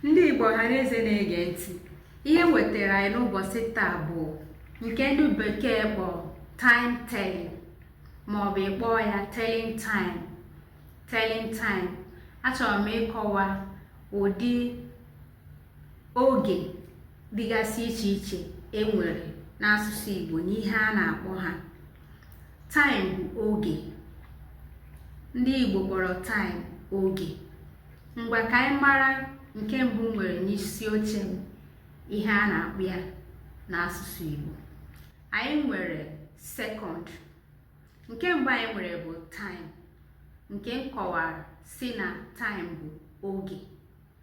ndị igbo ọha na eze na-ege ntị ihe m wetara anyị n'ụbọchị taa bụ nke ndị bekee kpọ time telling maọbụ ị kpọọ ya telling time telling time achọrọ m ịkọwa ụdị oge dịgasị iche iche e nwere n'asụsụ Igbo na ihe a na-akpọ ha taịm bụ oge ndị Igbo kpọrọ taịm oge ngwa ka anyị mara nke mbụ nwere n'isi oche m ihe a na-akpọ ya n'asụsụ Igbo anyị nwere sekọnd nke mbụ anyị nwere bụ taịm nke m kọwara sị na taịm bụ oge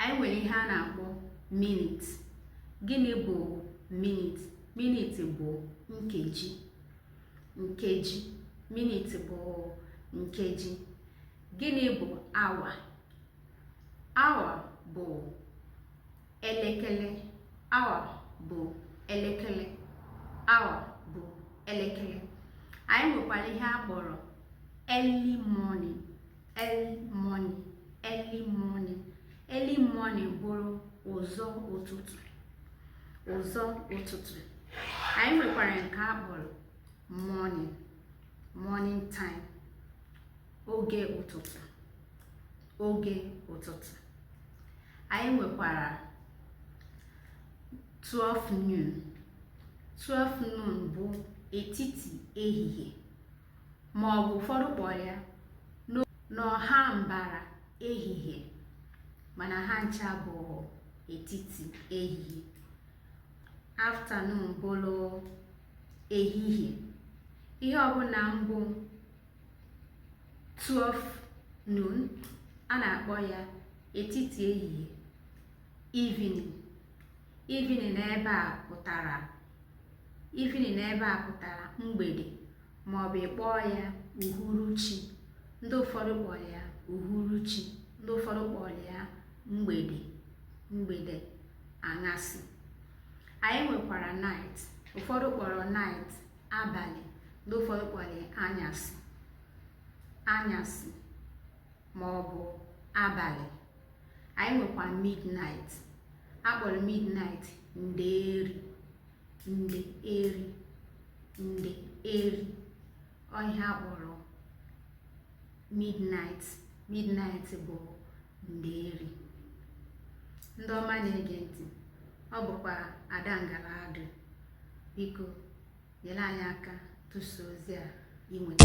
anyị nwere ihe a na-akpọ minit gịnị bụ minit minit bụ nkeji nkeji minit bụ nkeji gịnị bụ awa awa bụ elekere awa bụ elekere awa bụ elekere anyị nwekwara ihe a kpọrọ early morning early morning early morning early morning bụrụ ụzọ ụtụtụ ụzọ ụtụtụ anyị nwekwara nke a kpọrọ morning morning time oge ụtụtụ oge ụtụtụ anyị nwekwara 12 noon 12 noon bụ etiti ehihie ma ọ bụ ụfọdụ kpọrọ ya n'ọha mbara ehihie mana ha ncha bụ etiti ehihie afternoon bụrụ ehihie ihe ọbụla bụ 12 noon a na-akpọ ya etiti ehihie evening Evening n'ebe a pụtara Evening n'ebe a pụtara mgbede maọbụ ị kpọọ ya uhuruchi. Ndị ụfọdụ kpọrọ ya uhuruchi, ndị ụfọdụ kpọrọ ya mgbede, mgbede, aṅasị. Anyị nwekwara night. Ụfọdụ kpọrọ night abalị, ndị ụfọdụ kpọrọ ya anyasị, anyasị. ma ọ bụ abalị anyị nwekwa midnight a kpọrọ midnight ndeeri ndeeri ndeeri ọ ihe a kpọrọ midnight midnight bụ ndeeri ndị ọma na-ege ntị ọ bụkwa ada ngara adụ biko nyere anyị aka tụsa ozi a i nweta